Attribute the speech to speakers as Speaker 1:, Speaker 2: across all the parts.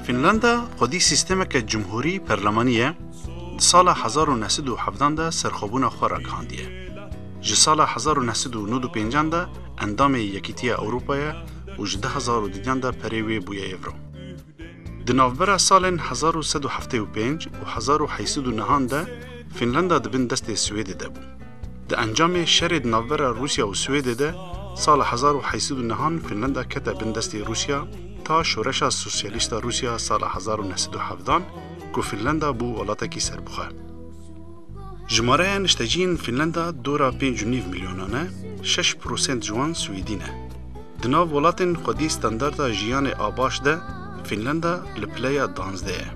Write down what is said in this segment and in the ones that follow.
Speaker 1: Finlanda xwedî sîstemeke cumhurî perlemanî ye, di sala 1970 de serxwebûna xwe ragihandiye. Ji sala 1995 de endamê Yekîtiya Ewropayê û ji du hezar û duyan de perê wê bûye Êvro. Di navbera salên hezar û sed û heftê û pênc û hezar û heysi dû nihan de Fînlanda di bin destê Swêdê de bû. Di encamê şerê di navbera Rûsya û Swêdê de sala hezar û heysi dû nihan Fînlanda kete bin destê Rûsya ta Şoreşa Sosyalîst a Rûsya sala hezar û neh sed û hevdan ku Fînlanda bû welatekî serbixwe. Jimareya nişteciyên Fînlanda dora pênc û nîv milyonan e, şeş prosent ji wan swîdî ne. Di nav welatên xwedî standarda jiyanê a baş de Fînlanda li pileya danzdeh ye.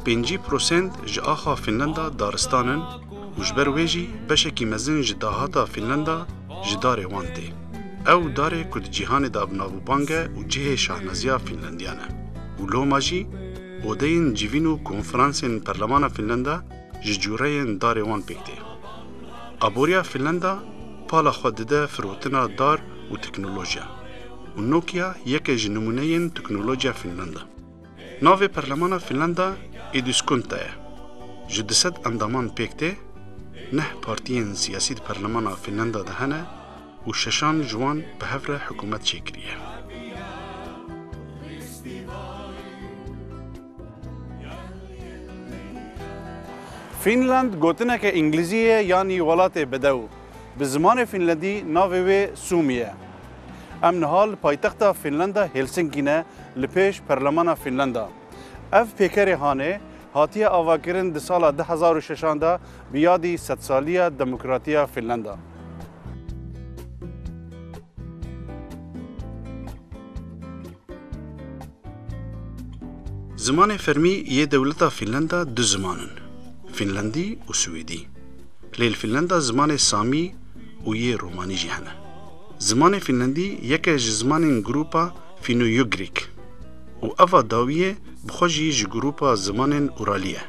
Speaker 1: Pêncî prosent ji axa Fînlanda daristan in û ji ber wê jî beşekî mezin ji dahata Fînlanda ji darê wan tê. Ew darê ku di cîhanê de bi nav û bang e û cihê şahnaziya Fînlandiyan e û loma jî, Odeyên civîn û konferansên Perlemana Fînlanda ji cureyên darê wan pêk tê. Aboriya Fînlanda pala xwe dide firotina dar û teknolojiya û Nokia yeke ji nimûneyên teknolojiya Fînlanda. Navê Perlemana Fînlanda Eduskunta ye. Ji du sed endaman pêk tê, neh partiyên siyasî di Perlemana Fînlanda de hene, û şeşan ji wan bi hev re hikûmet çêkiriye. Fînland gotineke îngilîzî ye yanî welatê bedew. Bi zimanê fînlendî navê wê Sumi ye. Em niha li paytexta Fînlanda Hêlsinkî ne li pêş Perlemana Fînlanda. Ev pêkerê hanê Hatiye avakirin di sala du hezar û şeş an de bi yadî sedsaliya demokratiya Fînlanda. Zimanê fermî yê dewleta Fînlanda du ziman in, Fînlandî û Swêdî. Lê li Fînlanda zimanê Samî û yê Romanî jî hene. Zimanê Fînlandî yeke ji zimanên grûpa Fîno-Ugrîk. Û eva dawiyê bi xwe jî ji grûpa zimanên Uralî ye.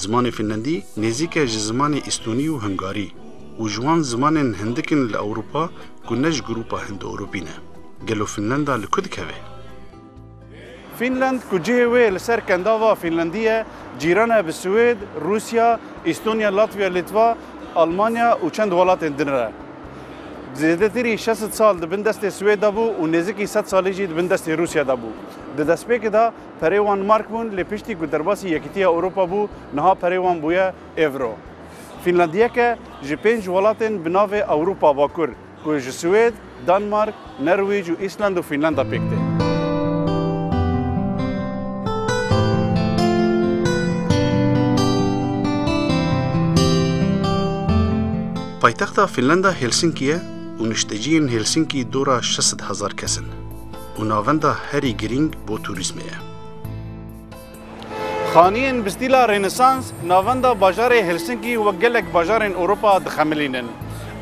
Speaker 1: Zimanê Fînlandî nêzîk e ji zimanê Îstonî û Hungarî û ji wan zimanên hindik in li Ewropa ku ne ji grûpa Hindo-Ewropî ne. Gelo Fînlanda li ku dikeve? Fînland ku cihê wê li ser kendava Fînlandî ye, cîran e bi Swêd, Rûsya, Îstonya, Latviya, Lîtva, Almanya û çend welatên din re. Zêdetirî şesit sal di bin destê Swêd de bû û nêzikî sed salî jî di bin destê Rûsya de bû. Di destpêkê de perê wan mark bûn lê piştî ku derbasî Yekîtiya Ewropa bû niha perê wan bûye Ewro. Fînlandiyeke ji pênc welatên bi navê Ewropa Bakur ku ji Swêd, Danmark, Nerwîc û Îsland û Fînlanda pêk tê. Paytexta Fînlanda Helsinki ye û nişteciyên Helsinki dora şeş sed hezar kes in û navenda herî girîng bo turîzmê ye. Xaniyên bi stîla Rênesans navenda bajarê Helsinkî wek gelek bajarên Ewropa dixemilînin.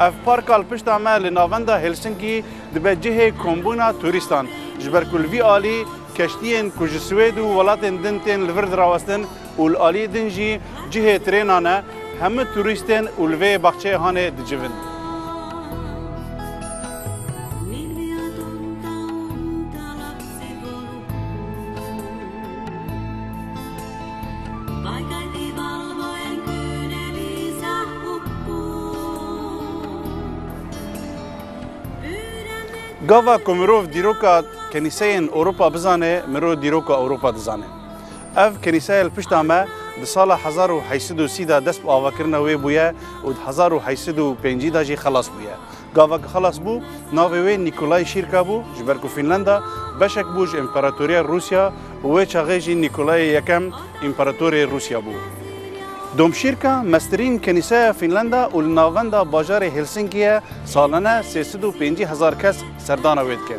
Speaker 1: Ev parka li pişta me li navenda Helsinkî dibe cihê kombûna turîstan, ji ber ku li vî alî keştiyên ku ji Swêd û welatên din tên li vir dirawestin û li alî din jî cihê trênan e, hemû turîstên û li vê baxçeyê hanê dicivin. Gava ku mirov dîroka kenîseyên Ewropa bizane, mirov dîroka Ewropa dizane. Ev kenîseya li pişta me di sala hezar û heşt sed û sî de dest bi avakirina wê bûye û di hezar û heşt sed û pêncî de jî xelas bûye. Gava ku xelas bû, navê wê Nîkolay Şîrka bû, ji ber ku Fînlanda beşek bû ji Împaratoriya Rûsya û wê çaxê jî Nîkolayê Yekem Împaratorê Rûsya bû. Domşîrka meztirîn kenîseya Fînlanda û li navenda bajarê Hêlsinkiyê salane sê sed û pêncî hezar kes serdana wê dike.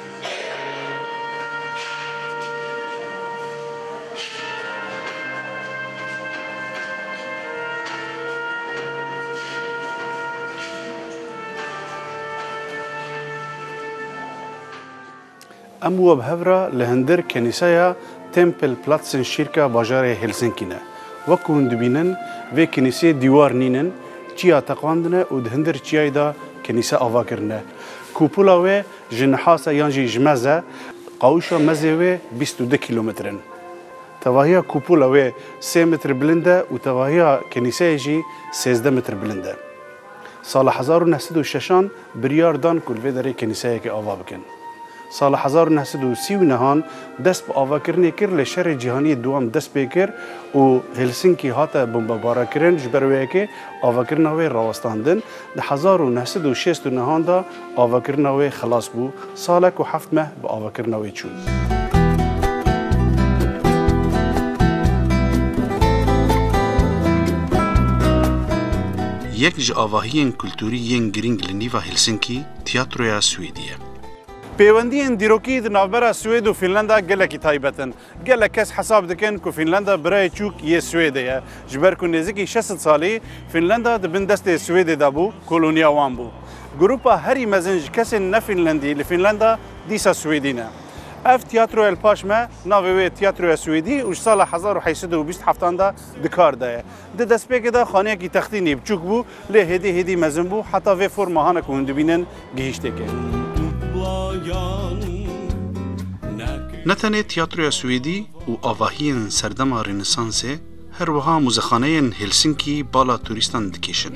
Speaker 1: Em we bi hev re li hindir kenîseya Tempelplatsen Kyrka bajarê Helsinkî ne. Wek ku hûn dibînin vê kenîseyê dîwar nîn in, çiya teqandine û di hindir çiyayê de kenîse ava kirine. Kupola wê Ji Nihase yan jî ji Meze, qawişa mezê wê bîst û du kîlometr in. Tevahiya kupola wê sê mitr bilind e û tevahiya kenîseyê jî sêzdeh mitr bilind e. Sala hezar û neh sed û şeş an biryar dan ku li vê derê kenîseyekê ava bikin. Sala hezar û neh sed û sî û neh an dest bi avakirinê kir lê Şerê Cîhaniyê Dûam dest pê kir û Helsinki hate bombebarekirin ji ber wê yekê avakirina wê rawestandin. Di hezar û neh sed û şêst û nihan de avakirina wê xilas bû, salek û heft meh bi avakirina wê çûn. Yek ji avahiyên kulturî yên girîng li nîva Helsinki Tiyatroya Swêdî ye. Pêwendiyên dîrokî di navbera Swêd û Fînlanda gelekî taybet in. Gelek kes hesab dikin ku Fînlanda birayê çûk yê Swêdê ye. Ji ber ku nêzikî şesit salî Fînlanda di bin destê Swêdê de bû, koloniya wan bû. Grupa herî mezin ji kesên ne Fînlendî li Fînlanda dîsa Swêdî ne. Ev tîyatroya li paş me navê wê Tîyatroya Swêdî û ji sala hezar û heşt sed û bîst heftan de di kar de ye. Di destpêkê de xaneyekî textî nêbiçûk bû lê hêdî hêdî mezin bû heta vê forma hana ku hûn dibînin gihîştêkê. Ne tenê tiyatroya Swêdî û avahiyên serdema Rênesansê her wiha muzexaneyên Helsinkî bala turîstan dikêşin.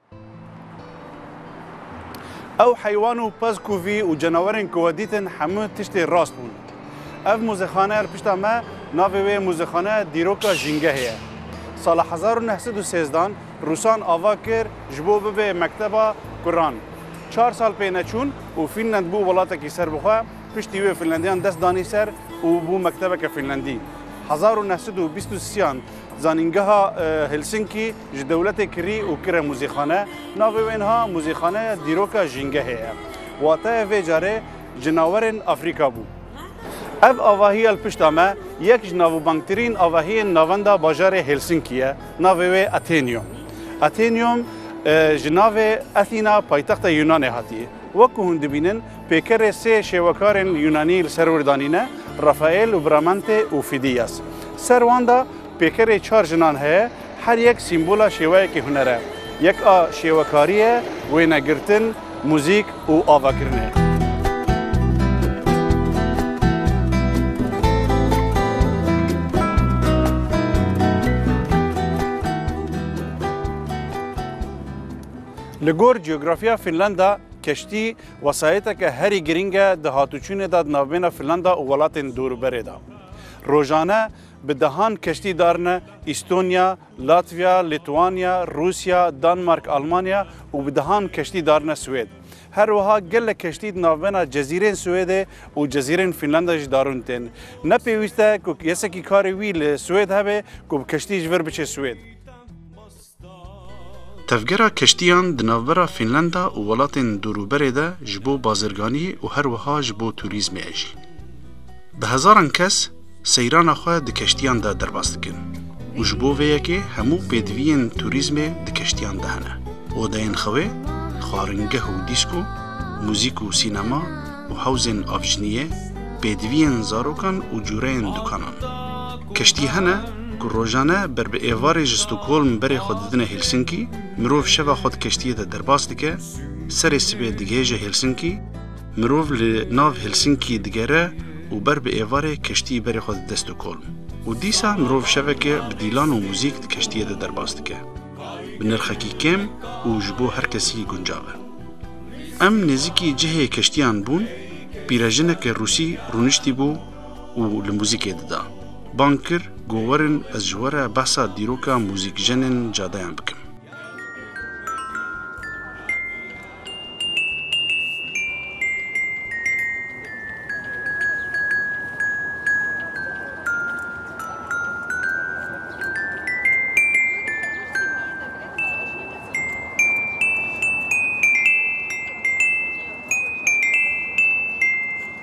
Speaker 1: Ew heywan û pezkûvî û cenawerên ku we dîtin hemû tiştê rast bûn. Ev muzexaneya li pişta me navê wê ye Muzexaneya Dîroka Jîngehê ye. Sala hezar û neh sed û sêzdan Rûsan ava kir ji bo bibe mekteba kuran. Çar sal pê neçûn û Fînland bû welatekî serbixwe, piştî wê Fînlandiyan dest danî ser û bû mektebeke Fînlandî. Hezar û neh sed û bîst û sî yan zanîngeha Helsinkî Ji dewletê kirî û kire muzîkxane, navê wê niha Muzîkxaneya Dîroka Jîngehê ye. Wateyê vê carê Cinawerên Afrîka bû. Ev avahiya li pişta me yek ji navbangtirîn avahiyên navenda bajarê Helsinki ye, navê wê Athenaeum. Athenaeum ji navê Athena paytexta Yûnanê hatiye. Wek ku hûn dibînin pêkerê sê şêwekarên Yûnanî li ser wir danîne, Rafael û Bramante û Fidias. Ser wan de Pêkerê çar jinan heye, her yek sîmbola şêweyekî huner e. Yek a şêwekarî ye, wênegirtin, muzîk û avakirinê. Li gor cografiya Fînlanda, keştî wesayeteke herî girîng e di hatûçûnê de di navbêna Fînlanda û welatên dorûberê de. Rojane, Bi dehan keştî darine Îstonya, Latviya, Lîtwanya, Rûsya, Danmark, Almanya û bi dehan keştî darine Swêd. Her wiha gelek keştî di navbena Cezîrên Swêdê û Cezîrên Fînlandayê jî darin tên. Ne pêwîst e ku kesekî karê wî li Swêd hebe ku bi keştî ji vir biçe Swêd. Tevgera keştiyan di navbera Fînlanda û welatên dorûberê de ji bo bazirganiyê û her wiha ji bo tûrîzmê e jî. Bi hezaran kes seyrana xwe di keştiyan de derbas dikin û ji bo vê yekê hemû pêdiviyên tûrîzmê di keştiyan de hene, odeyên xewê, xwaringeh û dîsko, muzîk û sînema û hewzên avjiniyê, pêdiviyên zarokan û cûreyên dukanan. Keştî hene ku rojane ber bi êvarê ji Stockholm berê xwe didine Helsinki, mirov şeva xwe di keştiyê de derbas dike, serê sibê digihêje Helsinki, mirov li nav Helsinki digere û ber bi êvarê keştî berê xwe dide Stockholm û dîsa mirov şeveke bi dîlan û muzîk di keştiyê de derbas dike. Bi nirxekî kêm û ji bo her kesî guncav e. Em nêzîkî cihê keştiyan bûn, pîrejineke Rûsî rûniştî bû, û li muzîkê dida. Bang kir ku werin ez ji we re behsa dîroka muzîkjenên cadeyan bikim.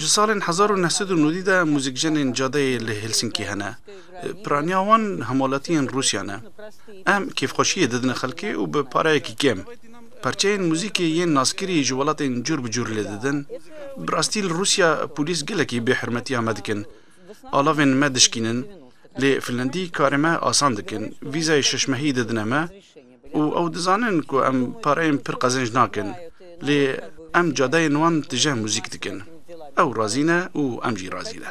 Speaker 1: Ji salên hezar û neh sed û nûdî de muzîkjenên cadeyê li Helsinkî hene. Piraniya wan hemalatiyên Rûsya ne. Em kêfxweşiyê didine xelkê û bi pareyekî kêm. Parçeyên muzîkê yên naskirî ji welatên cûr bi cûr lê didin. Bi rastî li Rûsya polîs gelekî bêhurmetiya me dikin. Alavên me dişkînin. Lê Finlandî karê me asan dikin. Vîzayê şeş mehî didine me. û ew dizanin ku em pareyên pir qezenc nakin, lê em cadeyên wan tije muzîk dikin. Ew razî ne û em jî razî ne.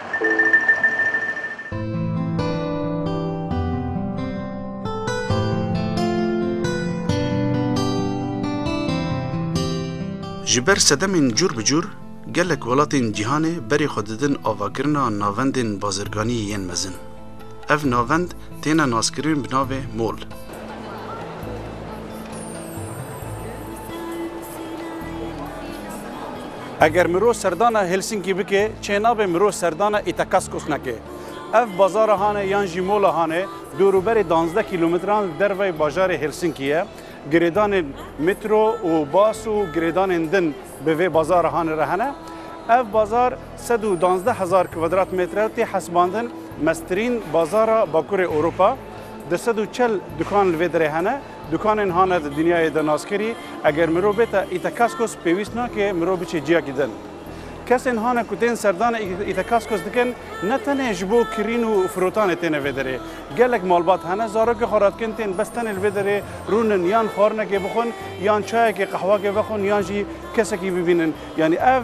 Speaker 1: Ji ber sedemên cûr bi cûr gelek welatên cîhanê berê xwe didin avakirina navendên bazirganiyê yên mezin. Ev navend têne naskirin bi navê mol. Eger mirov serdana Helsinki bike, çênabe mirov serdana Itakaskos neke. Ev bazara han e yan jî mola han e, dûrûberê danzdeh kîlometran li derveyê bajarê Helsinki ye. Girêdanên metro û bas û girêdanên din bi vê bazara han re hene. Ev bazar sed û danzdeh hezar kwadratmetre tê hesibandin meztirîn bazara Bakurê Ewropa. Du sed û çel dukan li vê derê hene. Dukanên hane di dinyayê de naskerî eger mirov bêta Itekaskos pêwîst nake mirov biçe ciyakî din. Kesên hane ku tên serdana Itekaskos dikin ne tenê ji bo kirîn û firotanê têne vê derê. Gelek malbat hene zarokê xwe re dikin tên bes tenê li vê derê rûnin yan xwarinekê bixwin yan çayekê qehwakê vexwin yan jî kesekî bibînin yanî ev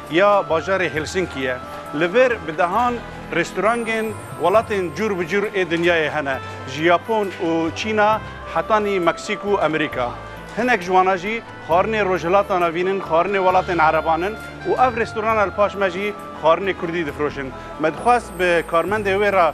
Speaker 1: ya bajarê Helsinkiye. Li vir bi dehan restorangên welatên cûr bi cûr ê dinyayê hene, ji Yapon û Çîna hetanî Meksîk û Amerîka. Hinek ji wana jî xwarinê Rojhilatan avînin, xwarinê welatên ereban in û ev restorana li paş me jî xwarinê kurdî difiroşin. Me dixwest bi karmendê wê re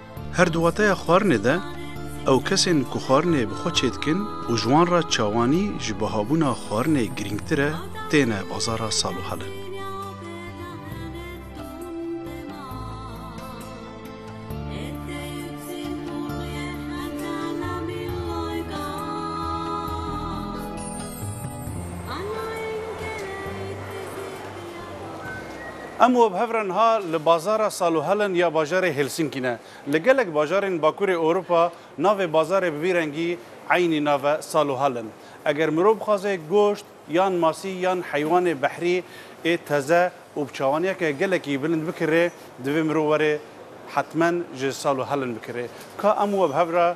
Speaker 1: Her di wateya xwarinê de, ew kesên ku xwarinê bi xwe çêdikin û ji wan re çawanî ji bihabûna xwarinê girîngtir e, têne bazara sal û helin. Em û hev re niha li bazara Saluhällen ya bajarê Helsinkî ne. Li gelek bajarên Bakurê Ewropa navê bazarê bi vî rengî eynî nav e Saluhällen. Eger mirov bixwaze goşt yan masî yan heywanê behrî ê teze û bi çawaniyeke gelekî bilind bikirê divê mirov were hetmen ji Saluhällen bikirê. Ka em û hev re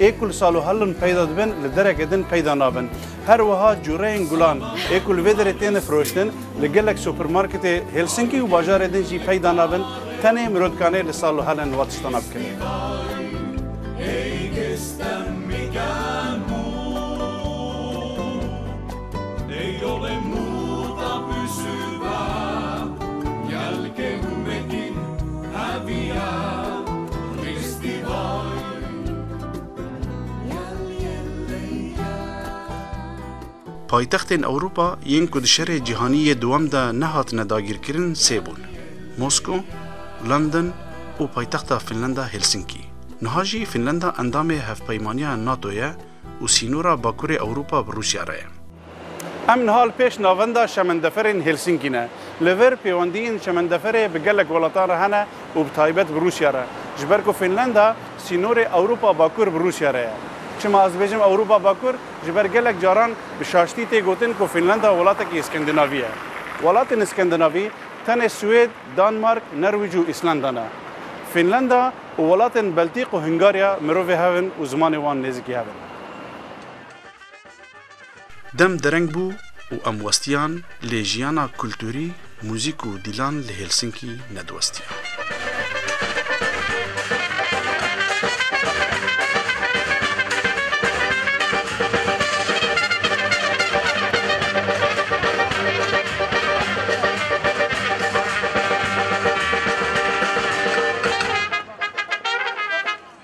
Speaker 1: Ê ku li salohelin peyda dibin, li dereke din peyda nabin. Her wiha cureyên gulan ê ku li vê derê têne firoştin, li gelek supermarketê Helsinki û bajarê din jî peyda nabin, tenê miro dikanê li salohelin wa tiştana bikin. Paytextên Ewropa yên ku di Şerê Cîhanî yê Dûwem de nehatine dagîrkirin sê bûn, Mosko, London û paytexta Fînlanda Helsinkî. Niha jî Fînlanda endamê Hevpeymaniya NATO ye û sînora Bakurê Ewropa bi Rûsya re ye. Em nihal pêş navenda şemendeferên Helsînkî ne. Li vir pêwendiyên şemendeferê bi gelek welatan re hene û bi taybet bi Rûsya re. Ji ber ku Fînlanda sînorê Ewropa Bakur bi Rûsya re ye. Çima ez dibêjim Ewropa Bakur? Ji ber gelek caran bi şaştî tê gotin ku Fînlanda welatekî Skandinavî ye. Welatên Skandinavî tenê Swêd, Danmark, Nerwîc û Îslanda ne. Fînlanda û welatên Beltîk û Hungarya mirovê hev in û zimanê wan nêzîkî hev in. Dem dereng bû û em westiyan lê jiyana kulturî, muzîk û dîlan li Helsinki nediwestiya.